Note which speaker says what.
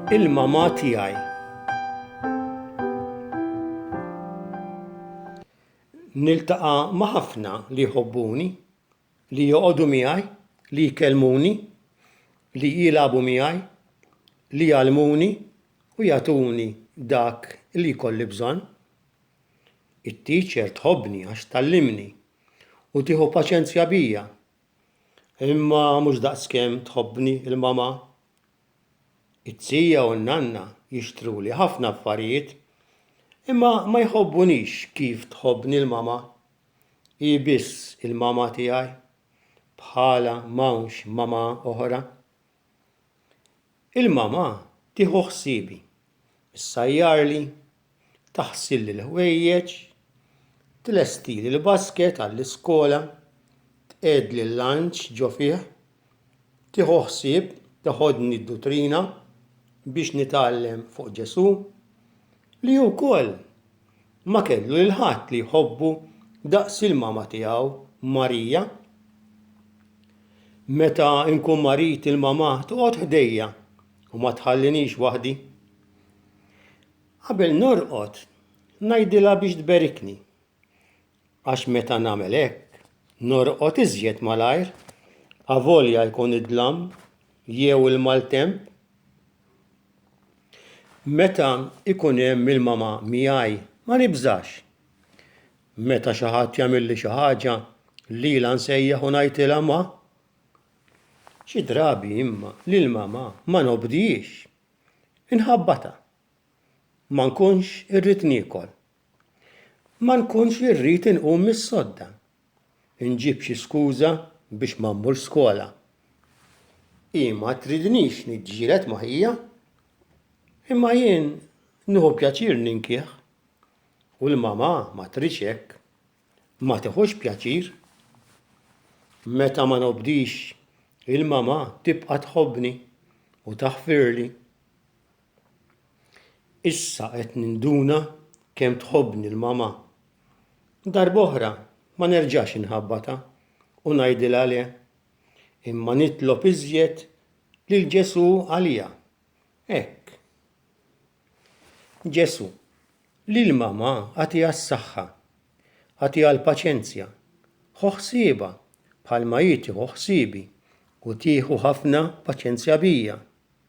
Speaker 1: Il-mama tiegħi. Niltaqa' ma' ħafna li jħobbuni, li joqogħdu miegħi, li jkellmuni, li jilagħbu miegħi, li jgħallmuni u jagħtuni dak li jkolli bżonn. It-teacher tħobbni għax tgħallimni u tieħu paċenzja bija. Imma mhux daqskemm tħobbni l-mama. It-tija u n-nanna jixtruli ħafna affarijiet, imma ma jħobbunix kif tħobbni l-mama. Hi biss il-mama tiegħi. Bħalha m'hawnx mama oħra. Il-mama tieħu ħsiebi, issajjarli, taħsilli l-ħwejjeġ, tlestili l-basket għall-iskola, tqegħedli l-lunch ġo fih, tieħu ħsieb teħodni d-duttrina biex nitgħallem fuq Ġesù, li wkoll Ma kellu lil ħadd li jħobbu daqs il-mama tiegħu Marija. Meta nkun marid il-mama toqgħod ħdejja u ma tħallinix waħdi. Qabel norqod ngħidilha biex tberikni. għax meta nagħmel hekk norqod iżjed malajr avolja jkun id-dlam jew il-maltemp Meta ikun hemm il-mama miegħi ma nibżax. Meta xi ħadd jagħmilli xi ħaġa lilha nsejjaħ u ngħidilha ma. Xi drabi imma lil mama ma nobdihiex. Inħabbatha. Ma nkunx irrid niekol. Ma nkunx li rrid inqum mis-sodda, inġib xi skuża biex ma mmurx skola. Hi ma tridnix niġġieled ma' ħija, imma jien nieħu pjaċir ninkih, u l-mamà ma tridx hekk, ma tieħux pjaċir. Meta ma nobdix, il-mamà tibqa' tħobbni u taħfirli. Issa qed ninduna kemm tħobbni l-mama. Darb'oħra ma nerġax inħabbatha u ngħidilha le, imma nitlob iżjed lil Ġesù għaliha. Hekk. Ġesù, lill-mama agħtiha s-saħħa, agħtiha l-paċenzja, ħu ħsiebha bħalma hi tieħu ħsiebi u tieħu ħafna paċenzja bija.